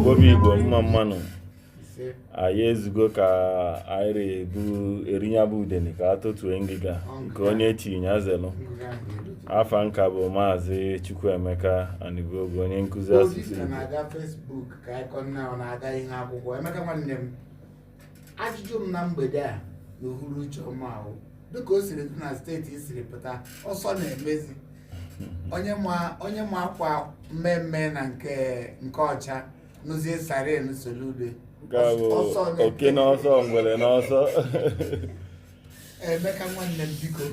Obi Igbo mma mma nụ anyị ezugo ka anyị ra ebu eri nya bụ udene ka a totue ngịga nke onye chi nya zelu afa m ka bụ maazị Chukwuemeka Anibuogu onye nkụzi asụsụ Igbo ajụjụ m na mgbede a na uhuruchi ọma a bụ dịka o siri dị na steeti i siri pụta ọsọ na-emezi onye ma onye ma akwa mmee mmee na nke nke ọcha nụzie siren Soludo nke a bụ Ọsọ na- oke n'ọsọ ngwere n'ọsọ emeka nwanne m biko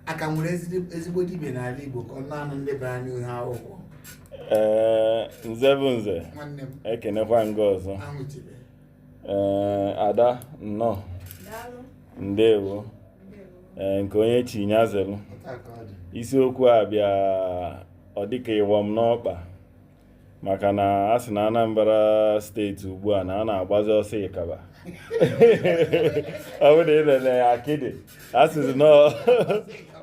a ka nwere ezigbo- ezigbo dibia n'ala Igbo ka ọ naanị ndị bara n'ihu akwụkwọ ee nze bụ nze nwanne m ekenekwa m gị ọzọ ahụchibe ee eh, ada nnọọ ndewo ee eh, nke onye chi nya zelu isiokwu a bịa ọ dịka ịwa m n'ọkpa maka na a sị na Anambra steeti ugbu a na a na-agbazi ọsọ ịkaba ọ bụrụ na ị lele ya akịdị a sịzi na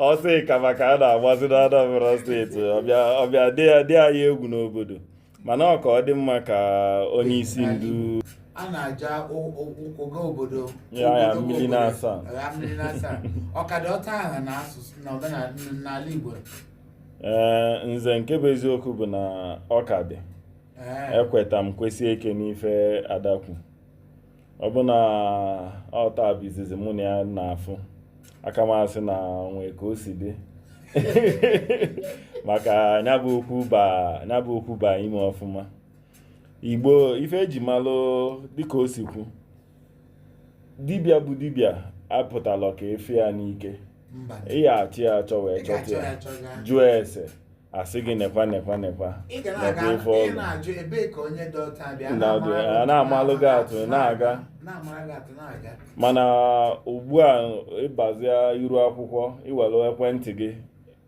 ọsọ ịkaba ka a na-agbazi na Anambra steeti ọ bịa dị ya egwu n'obodo mana ọ ka dị mma ka onye isi ndu a na-aja ụga obodo mmiri na-asa ọkada ọta aha na asụsụ na omenala n'ala Igbo ee eh, nze nke bụ eziokwu bụ na ọ ka dị eh. ekweta m kwesie ike n'ife Ada kwu ọ bụ na ọ taa bụ izizi mụ na ya na-afụ a ka m asị na o nwee ka o si dị maka ya bụ okwu ba ya bụ okwu ba ime ọfụma Igbo ife e ji malụ dịka o si kwu dibịa bụ dibịa apụtala ka e fe ya n'ike ị ya-achọ ya achọ wee chọta ya jụọ ese a sị gị nekwa nekwa nekwa nekwa ife ọ lụ a na-amalụ gị atụ na-aga mana ugbu a ị bazia iru akwụkwọ i were ekwentị gị